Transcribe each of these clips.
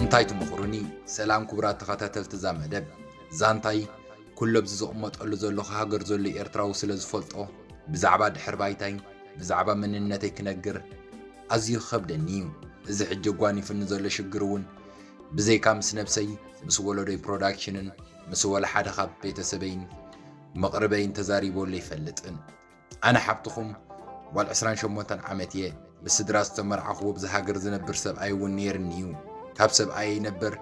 እንታይ ትምኽሩኒ? ሰላም ክቡራት ተኸታተልቲ እዛ መደብ ዛንታይ ኩሉ ኣብዚ ዝቕመጠሉ ዘለኹ ሃገር ዘሎ ኤርትራዊ ስለ ዝፈልጦ ብዛዕባ ድሕር ባይታይ ብዛዕባ መንነተይ ክነግር ኣዝዩ ክኸብደኒ እዩ። እዚ ሕጂ ጓኒፍኒ ዘሎ ሽግር እውን ብዘይካ ምስ ነብሰይ ምስ ወለዶይ ፕሮዳክሽንን ምስ ወላ ሓደ ካብ ቤተሰበይን መቕርበይን ተዛሪበሉ ኣይፈልጥን። ኣነ ሓብትኹም ጓል ዕስራን ሸሞንተን ዓመት እየ። ብስድራ ዝተመርዓኹ ኣብዛ ሃገር ዝነብር ሰብኣይ እውን ነይርኒ እዩ። ካብ ሰብኣየይ ነበር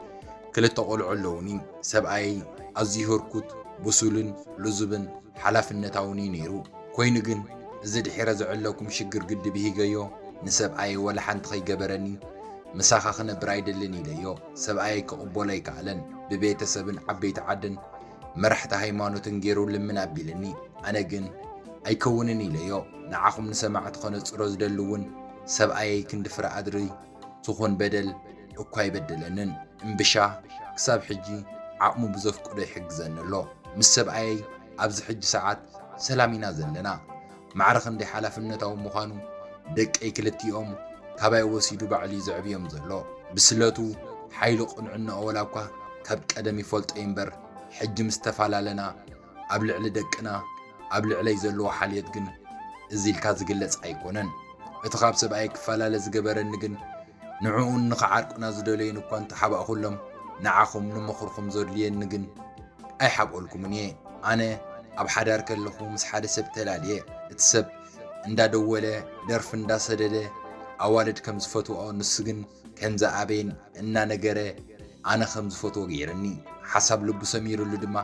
ክልተ ቆልዑ ኣለውኒ። ሰብኣየይ ኣዝዩ ህርኩት፣ ብሱልን ልዙብን ሓላፍነታውን እዩ ነይሩ። ኮይኑ ግን እዚ ድሒረ ዝዕለኩም ሽግር ግዲ ብሂገዮ ንሰብኣየይ ዋላ ሓንቲ ከይገበረኒ ምሳኻ ክነብር ኣይደልን ኢለዮ። ሰብኣየይ ክቕበሎ ኣይከኣለን። ብቤተ ሰብን ዓበይቲ ዓድን መራሕቲ ሃይማኖትን ገይሩ ልምን ኣቢልኒ ኣነ ግን ኣይከውንን ኢለዮ ንዓኹም ንሰማዕቲ ከነጽሮ ዝደሊ ውን ሰብኣየይ ክንዲ ፍረ ኣድሪ ትኹን በደል እኳ ኣይበደለንን እምብሻ ክሳብ ሕጂ ዓቕሙ ብዘፍቅዶ ይሕግዘኒ ኣሎ ምስ ሰብኣየይ ኣብዚ ሕጂ ሰዓት ሰላም ኢና ዘለና ማዕረ ክንደይ ሓላፍነታዊ ምዃኑ ደቀይ ክልቲኦም ካባይ ወሲዱ ባዕሉ'ዩ ዘዕብዮም ዘሎ። ብስለቱ፣ ሓይሉ ቅንዕናኡ ወላ እኳ ካብ ቀደም ይፈልጦ'ዩ እምበር ሕጂ ምስ ተፈላለና ኣብ ልዕሊ ደቅና ኣብ ልዕለይ ዘለዎ ሓልዮት ግን እዚ ኢልካ ዝግለጽ ኣይኮነን። እቲ ካብ ሰብኣየይ ክፈላለ ዝገበረኒ ግን ንዕኡን ንኽዓርቁና ዝደለዩን እኳ እንተሓባእኩሎም ንዓኹም ንምኽርኩም ዘድልየኒ ግን ኣይሓብኦልኩምን እየ ኣነ ኣብ ሓዳር ከለኹ ምስ ሓደ ሰብ ተላልየ እቲ ሰብ እንዳደወለ ደርፊ እንዳሰደደ ኣዋልድ ከም ዝፈትወኦ ንሱ ግን ከም ዝኣበየን እናነገረ ኣነ ከም ዝፈትዎ ገይርኒ ሓሳብ ልቡ ሰሚርሉ ድማ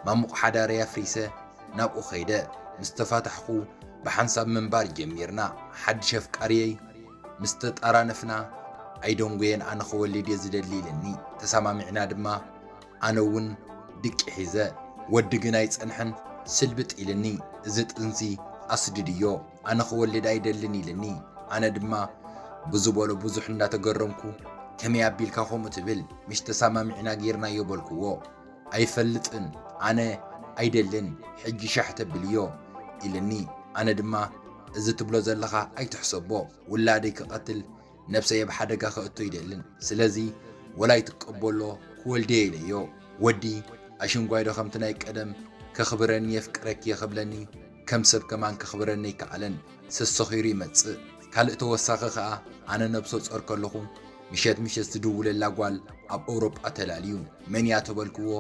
ማሙቕ ሓዳረይ ኣፍሪሰ ናብኡ ከይደ ምስ ተፋታሕኹ ብሓንሳብ ምንባር ጀሚርና ሓድሽ ኣፍቃርየይ ምስ ተጣራነፍና ኣይደንጎየን ኣነ ክወልድ እየ ዝደሊ ኢልኒ ተሰማሚዕና ድማ ኣነ እውን ድቂ ሒዘ ወዲ ግን ኣይጸንሐን ስልብጥ ኢልኒ እዚ ጥንሲ ኣስድድዮ ኣነ ክወልድ ኣይደልን ኢልኒ ኣነ ድማ ብዝበሎ ብዙሕ እንዳተገረምኩ ከመይ ኣቢልካ ከምኡ ትብል ምሽ ተሳማሚዕና ጌርናዮ በልክዎ ኣይፈልጥን ኣነ ኣይደልን ሕጂ ሻሕ ተብልዮ ኢልኒ ኣነ ድማ እዚ ትብሎ ዘለኻ ኣይትሕሰቦ ውላደይ ክቀትል ነብሰይ ኣብ ሓደጋ ከእቶ ኣይደልን ስለዚ ወላ ይትቀበሎ ክወልድየ ኢለዮ ወዲ ኣሽንጓይዶ ከምቲ ናይ ቀደም ከኽብረኒ የፍቅረኪየ ክብለኒ ከም ሰብ ከማን ከኽብረኒ ኣይከኣለን ሰሰኺሩ ይመጽእ ካልእ ተወሳኺ ከኣ ኣነ ነብሶ ጾር ከለኹ ምሸት ምሸት ዝድውለላ ጓል ኣብ ኣውሮጳ ተላልዩ መንያ ተበልክዎ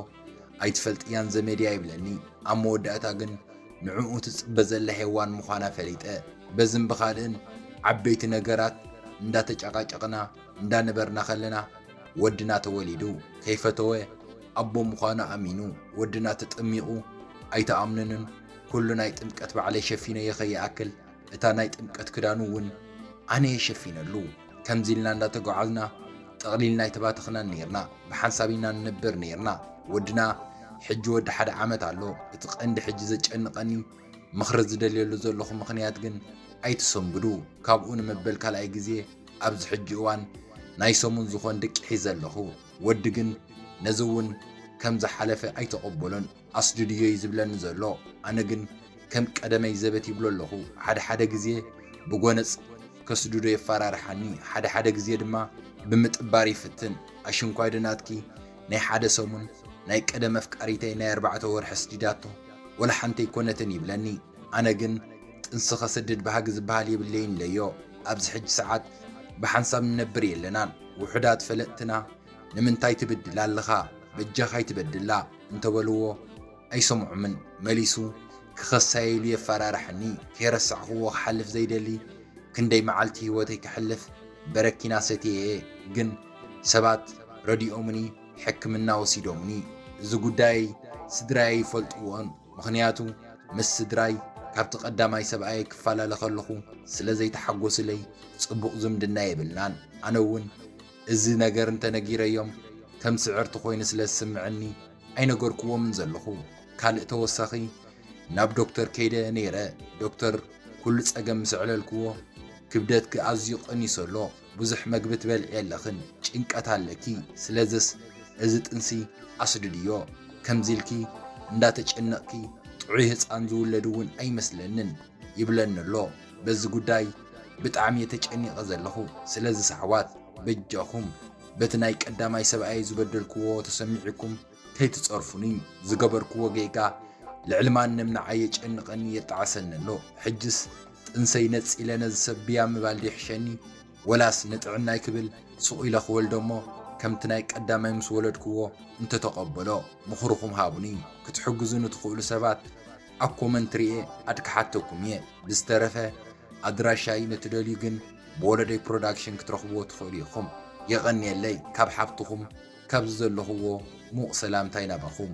ኣይትፈልጥያን ዘመድያ ይብለኒ ኣብ መወዳእታ ግን ንዕኡ ትጽበ ዘላ ሄዋን ምዃና ፈሊጠ። በዝን ብኻልእን ዓበይቲ ነገራት እንዳተጫቓጨቕና እንዳነበርና ከለና ወድና ተወሊዱ። ከይፈተወ ኣቦ ምዃኑ ኣሚኑ ወድና ተጠሚቑ። ኣይትኣምኑንን ኩሉ ናይ ጥምቀት ባዕለይ ሸፊነዮ ከይኣክል እታ ናይ ጥምቀት ክዳኑ እውን ኣነየ ሸፊነሉ። ከምዚ ኢልና እንዳተጓዓዝና ጠቕሊልና ኣይተባተኽናን ኔርና። ብሓንሳብ ኢና ንነብር ኔርና። ወድና ሕጂ ወዲ ሓደ ዓመት ኣሎ። እቲ ቀንዲ ሕጂ ዘጨንቐኒ ምኽሪ ዝደልየሉ ዘለኹ ምኽንያት ግን ኣይትሰንብዱ። ካብኡ ንመበል ካልኣይ ግዜ ኣብዚ ሕጂ እዋን ናይ ሰሙን ዝኾን ድቂ ሒዘ ኣለኹ። ወዲ ግን ነዚ እውን ከም ዝሓለፈ ኣይተቐበሎን። ኣስድድዮ እዩ ዝብለኒ ዘሎ ኣነ ግን ከም ቀደመይ ዘበት ይብሎ ኣለኹ ሓደ ሓደ ግዜ ብጎነጽ ከስድዶ የፋራርሓኒ ሓደ ሓደ ግዜ ድማ ብምጥባር ይፍትን ኣሽንኳይ ዶ ናትኪ ናይ ሓደ ሰሙን ናይ ቀደም ኣፍቃሪተይ ናይ ኣርባዕተ ወርሒ ኣስዲዳቶ ወላ ሓንቲ ኣይኮነትን ይብለኒ ኣነ ግን ጥንሲ ከስድድ ባህጊ ዝበሃል የብለይን ኢለዮ ኣብዚ ሕጂ ሰዓት ብሓንሳብ ንነብር የለናን ውሑዳት ፈለጥትና ንምንታይ ትብድላ ኣለኻ በጃኻ ኣይትበድላ እንተበልዎ ኣይሰምዖምን መሊሱ ክኸሰይ ኢሉ የፋራርሐኒ ከይረሳዕኽዎ ክሓልፍ ዘይደሊ ክንደይ መዓልቲ ሂወተይ ከሕልፍ በረኪና ሰትየ'የ ግን ሰባት ረዲኦምኒ ሕክምና ወሲዶምኒ እዚ ጉዳየይ ስድራይ ኣይፈልጥዎን ምኽንያቱ ምስ ስድራይ ካብቲ ቀዳማይ ሰብኣየይ ክፋላለ ከለኹ ስለዘይተሓጎስለይ ጽቡቕ ዝምድና የብልናን ኣነ'ውን እዚ ነገር እንተ ነጊረዮም ከም ስዕርቲ ኮይኑ ስለ ዝስምዕኒ ኣይነገርክዎምን ዘለኹ። ካልእ ተወሳኺ ናብ ዶክተር ከይደ ነይረ ዶክተር ኩሉ ጸገም ምስ ኣዕለልክዎ ክብደትኪ ኣዝዩ ቀኒሱ ኣሎ ብዙሕ መግቢ ትበልዒ የለኽን ጭንቀት ኣለኪ ስለዝስ እዚ ጥንሲ ኣስድድዮ ከምዚ ኢልኪ እንዳተጨነቕኪ ጥዑይ ህጻን ዝውለድ እውን ኣይመስለንን ይብለኒ ኣሎ በዚ ጉዳይ ብጣዕሚ እየ ተጨኒቀ ዘለኩ ስለዚ ሰሕዋት በጃኩም በቲ ናይ ቀዳማይ ሰብኣየይ ዝበደልክዎ ተሰሚዑኩም ከይትጸርፉኒ ዝገበርክዎ ጌጋ ልዕሊ ማንም ንዓይ የጨንቀኒ የጣዕሰኒ ኣሎ ሕጅስ ጥንሰይ ነጺለ ነዚ ሰብ ብያ ምባል ዶ ይሕሸኒ ወላስ ንጥዕናይ ክብል ሱቅ ኢለ ክወልዶ እሞ ከምቲ ናይ ቀዳማይ ምስ ወለድክዎ እንተተቀበሎ ምክርኩም ሃቡኒ ክትሕግዙኒ ትክእሉ ሰባት ኣብ ኮመንት ሪኤ ኣድክሓተኩም እየ ብዝተረፈ ኣድራሻይ ንትደልዩ ግን ብወለደይ ፕሮዳክሽን ክትረኽብዎ ትኽእሉ ኢኹም የቐንየለይ ካብ ሓብትኹም ካብዚ ዘለኽዎ ሙቕ ሰላምታይ ናባኹም።